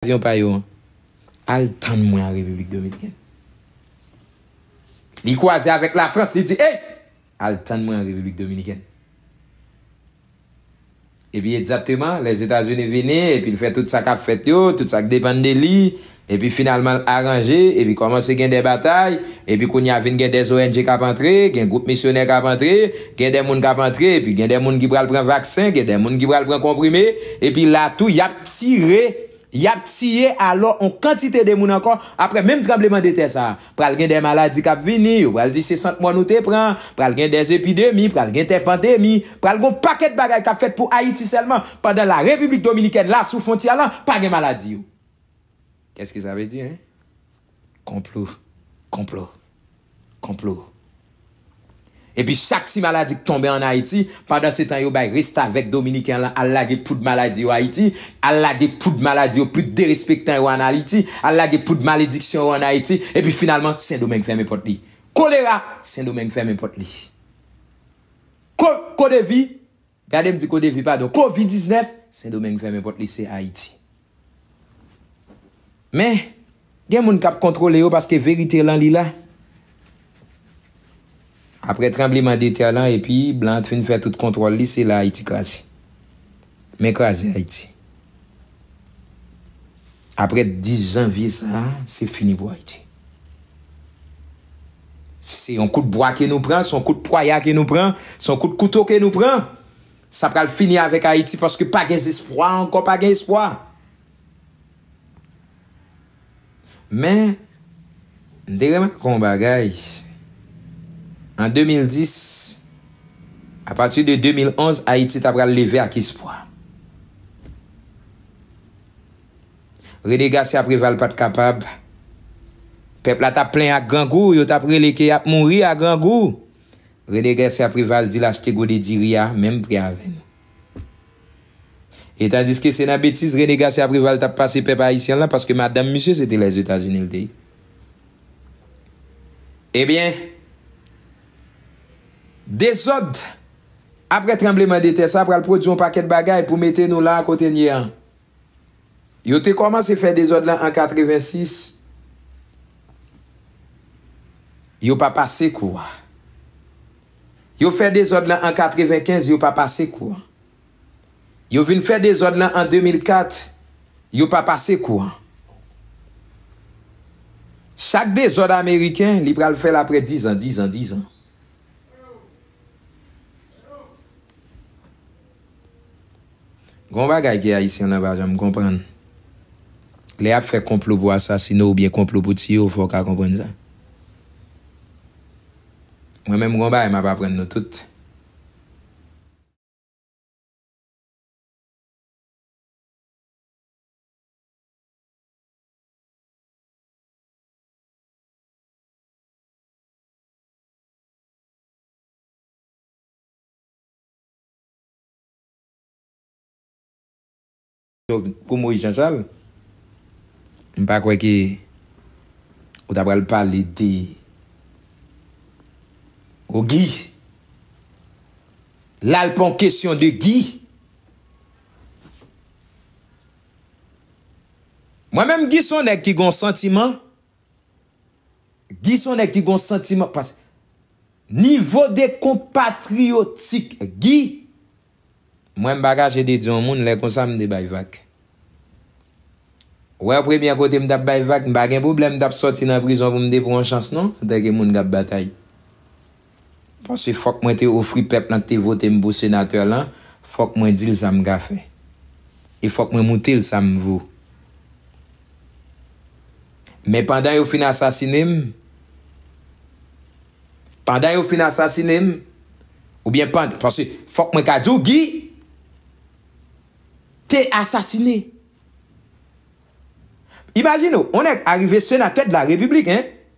avyon pa yo an al tann mwen an Repiblik Dominikèn. Li kwaze avèk Lafrans, li di, Ey! Al tann mwen an Repiblik Dominikèn. Epi egzatteman, Lèzetazini vini, epi l fè tout sa k ap fèt yo, tout sa k depann de li, epi finalman l aranje, epi kòmanse gen de batay, epi kounye a vin gen de ONG k ap antre, gen gwoup misyonè k ap antre, Gen de moun k ap antre epi gen de moun ki pral pran vaksen, gen de moun ki pral pran konprime, epi la tou y ap tire, y ap tiye alò on kantite de moun ankò, aprè menm tranbleman de tè sa a, pral gen de maladi k ap vini, yo pral di se sant mò nou te pran, pral gen de epidemi, pral gen de pandemi, pral gen on pakèt bagay k ap fèt pou Ayiti sèlman, pandan la Repiblik Dominikèn la sou fontyè lan pa gen maladi yo. Qu'est-ce que ça veut dire hein? Konplo, konplo, konplo. Epi chak ti maladi k tonbe an Ayiti, pandan se tan yo bay restavèk dominiken lan al lage poud maladi yo Ayiti, al lage poud maladi yo poud derespektan yo an Ayiti, al lage poud malediksyon yo an Ayiti, epi finalman Sendomeng fèmen pòt li. Kolera, Sendomeng fèmen pòt li. Ko, Kodevi, Gade m di ko devi padon covid 19 sendomeng fèmen pòt li se ayiti men gen moun kap kontrole yo paske verite lan li la aprè tranbleman de tè lan epi blan t fin fè tout kontrol li se la ayiti kraze men kraze ayiti. Aprè 10 janvye sa a, se fini pou Ayiti. Se yon kout bwa ke nou pran, se yon kout pwaya ke nou pran, se yon kout kouto ke nou pran. Sa pral fini avèk Ayiti paske pa gen zespwa ankò, pa gen espwa. Men, m te remake yon bagay, an 2010, apati de 2011, Ayiti ta pral leve ak espwa. Rene Gasya Preval pa t kapab, pèp la t ap plen ak grangou, yo t ap rele ke y ap mouri ak grangou, Rene Gasya Preval di l achte gode diri a menm pri avè nou. E tandiske se nan betiz Rene Garcia Preval t ap pase pèp ayisyen lan paske madanm misye se te Lèzetazini l te ye. Ebyen, dezòd aprè tranbleman de tè sa pral pwodui yon pakèt bagay pou mete nou la a kote n ye an. Yo te kòmanse fè dezòd lan an 86. Yo pa pase kou a. Yo fè dezòd lan an 95, yo pa pase kou an. Yo vin fè dezòd lan an 2004, yo pa pase kou an. Chak dezòd ameriken, li pral fè l aprè dizan, dizan, dizan. Gon bagay ke Ayisyen lan pa janm konprann. Lè yap fè konplo pou asasine w ou byen konplo pou tiye w fò w ka konprann sa. Mwen menm gon bagay map aprann nou tout. Pou Moïse Jean Charles, m pa kwè ke ou ta pral pale de o Guy. La l pa yon kesyon de Guy. Mwen menm Guy son nèg ki gon santiman Guy son nèg ki gon santiman pas Nivo de konpatriyotik Guy Mwen m pa kache de di yon moun lè konsa m te bay vag Wè premyè kote m tap bay vag m pa gen pwoblèm m tap sòti nan prizon pou m te pran yon chans non antanke moun kap batay. Paske fòk mwen te ofri pèp lan k te vote m pou senatè lan, fòk mwen di l sa m ka fè. E fòk mwen moutre l sa m vo. Men pandan yo fin asasine m, pandan yo fin asasine m, oubyen pandan, paske fòk mwen ka di w Guy te asasine. Imajine w, yon nèg arive senatè de la République hein!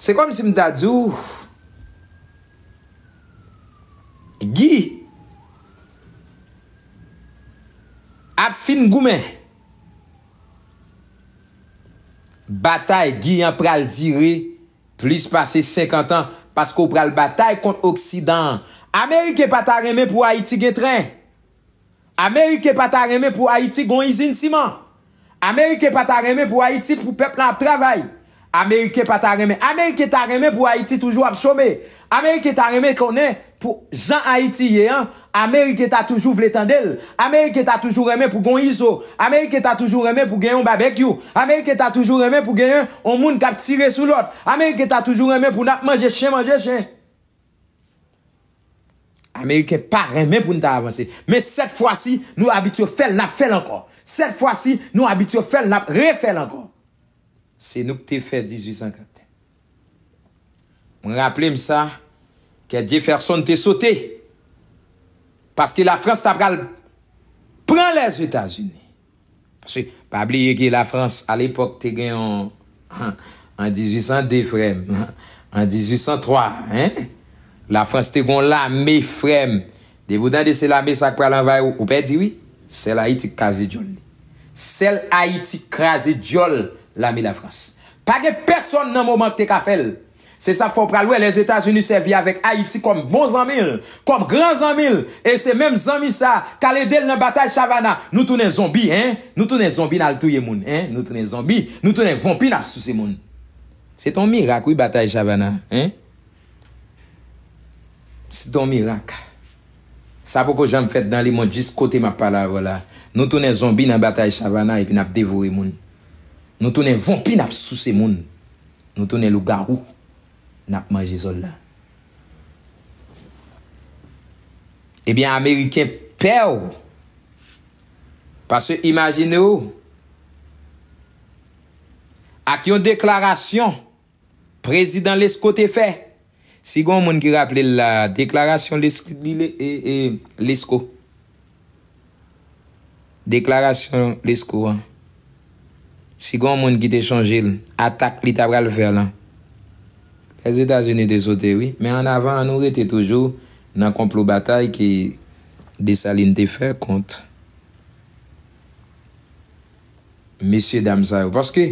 Se kòm si m ta di w Gi ap fin goumen. Batay Gi an pral dire plis pase 50 an paske w pral batay kont oksidan an. Ameriken pa ta renmen pou Ayiti gen tren. Ameriken pa ta renmen pou Ayiti gon izin siman. Ameriken pa ta renmen pou Ayiti pou pèp lan ap travay. Ameriken pa ta renmen Ameriken ta renmen pou Ayiti toujou ap chome. Ameriken ta renmen konnen pou jan Ayiti ye an Ameriken ta toujou vle tande l. Ameriken ta toujou renmen pou gon izo. Ameriken ta toujou renmen pou gen yon babekyou. Ameriken ta toujou renmen pou gen yon moun k ap tire sou lòt. Ameriken ta toujou renmen pou n ap manje chen manje chen. Ameriken pa renmen pou n ta avanse. Men sèt fwa si nou abitye fè l n ap fè l ankò. Sèt fwa si nou abitye fè l n ap refè l ankò. Se nou k te fè 1804. Mwen raple m sa kè Jefferson te sote paske Lafrans ta pral pran Lèzetazini. Paske pa bliye ke la France a l'epoque te gen yon an 1802 frèm an 1803 hein la France te gen yon lame frèm depi ou tande se lame sa ki pral anvayi ou ou pèdi wi sèl Haïti ki kaze dyòl li sèl Haïti ki kraze dyòl lame la France pa gen pèsòn nan moman ki te ka fèl Se sa k fè w pral wè Lèzetazini sèvi avèk Ayiti kòm bon zanmi l, kòm gran zanmi l, e se menm zanmi sa a k al ede l nan batay Chavana. Nou tounen zonbi, hein? Nou tounen zonbi n al touye moun, hein? Nou tounen zonbi, nou tounen vonpi n ap souse moun. Se te yon mirak wi batay Chavana, hein? Se te yon mirak. Sa poko janm fèt nan lemond jis kote m ap pale avè w la a. Nou tounen zonbi nan batay Chavana epi n ap devore moun. Nou tounen vonpi n ap souse moun. Nou tounen lougarou nap manje zol la. Ebyen ameriken pèw paske imajine w ak yon deklarasyon prezidan lesko te fè. Si gon moun ki raple l la deklarasyon Lesko deklarasyon Lesko an si gon moun ki te chonje l atak li ta pral fè lan Lèzetazini te sote wi men an avan an nou rete toujou nan konplo batay ke Desalin te fè kont mesye dam sa yo paske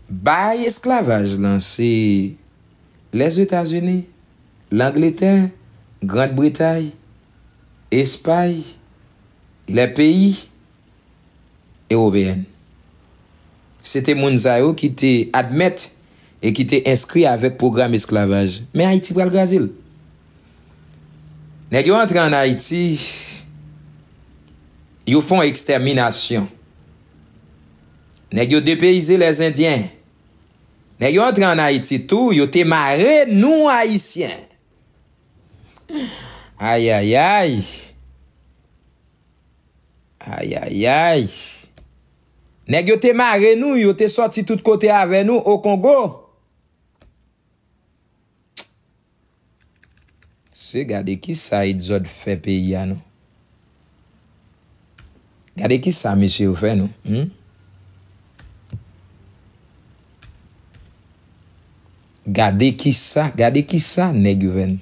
bay esklavaj lan se Lèzetazini, Langletè, Grand Bretay, Espay, lè peyi Ewopeyen. Se te moun sa yo ki te admèt e ki te enskri avèk pwogram esklavaj. Men Ayiti pral kraze l. Nèg yo antre an Ayiti, yo fon ekstèminasyon. Nèg yo depeyize lèzendyen. Nèg yo antre an ayiti tou yo te mare nou ayisyen ayayay ayayay nèg yo te mare nou yo te sòti tout kote avè nou okongo. Se gade kisa Exod fè peyi a non. Gade kisa mesye yo fè nou humm. Gade kisa gade kisa nèg yo fè nou.